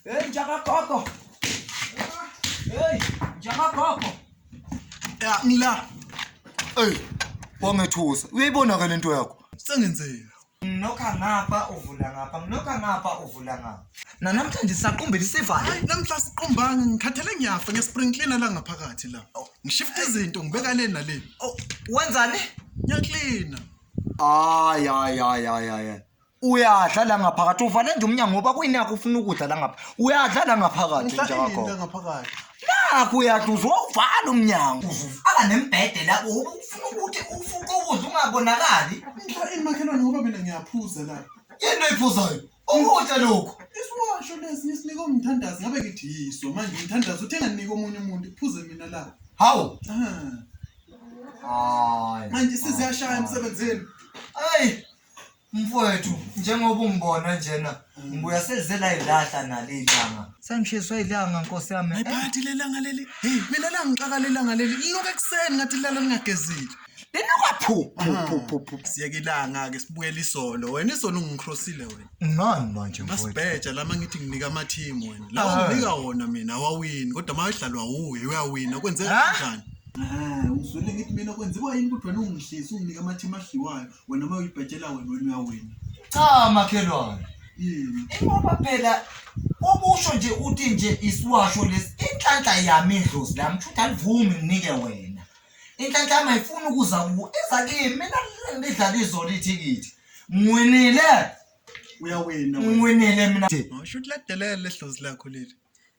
Hey, njaka koko. Hey, njaka koko. Ya, ngila. Hey, wangethusa. Uyayibona ke lento yakho. Sengenzeni? Mnokha ngapha uvula ngapha, mnokha ngapha uvula ngapha. Nanamhlanje sisaqumbela isivalo. Hayi namhla siqumbanga ngikhathele ngiyafa ngespring cleaner la ngaphakathi la. Oh. Ngishifta izinto ngibeka le nale. Oh, wenzani? Ngiyaklina. Ay ay ay ay ay. uyadla la ngaphakathi uvale nje umnyango ngoba kuyinakho ufuna ukudla la ngapha uyadla la ngaphakathi nje wakho nakho uyadla uzowuvala umnyango uzuvala nembhede la ufuna ukuthi ufuqe ukudla ungabonakali imakhelwane ngoba mina ngiyaphuza la yini oyiphuzayo ukudla lokhu isiwasho lesi ngisinika umthandazi ngabe ngithi yiso manje umthandazi uthe nganginika omunye umuntu iphuze mina la hawu manje siziyashaya emsebenzini ayi Mfowethu njengoba ungibona njena ngibuya selizela idlahla nale ilanga. Sengishiswa ilanga nkosi yami. Hayi phathi lelanga leli. Hey, mina la ngixaka lelanga leli. Linuka ekuseni ngathi lala lingagezile. Linuka phu phu phu phu phu. Siyeke ilanga ke sibuyele isolo. Wena isolo ungicrossile wena. Ngani manje mfowethu? Masibheja lama ngithi nginika ama team wena. La Ah. unika wona mina awawini kodwa mawedlalwa wuwe uyawina kwenzeka Ah. kanjani? Ah, uzwile ngithi mina kwenziwa yini ukuthi wena ungihlisi unginika ama team adliwayo. wena uma uyibhetshela wena wena uyawina cha makhelwane yini ingoba phela okusho nje uthi nje isiwasho lesi inhlanhla yami idlozi lami kushuthi alivumi nginike wena inhlanhla yami ayifuni ukuza kuwo iza kimi mina lidlala izolo ithikithi ngiwinile uyawina wena ngiwinile mina Ngisho ukuthi ladelela lehlozi lakho leli.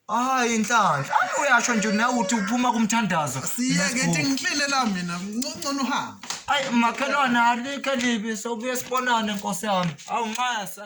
hayi inhlanhla Ave uyasho nje nawe uthi uphuma kumthandazo siyeke ithi ngihlelela mina ngcono uhambe ayi makhelwane alikho elibi sobuye sibonane nkosi yami awunxasa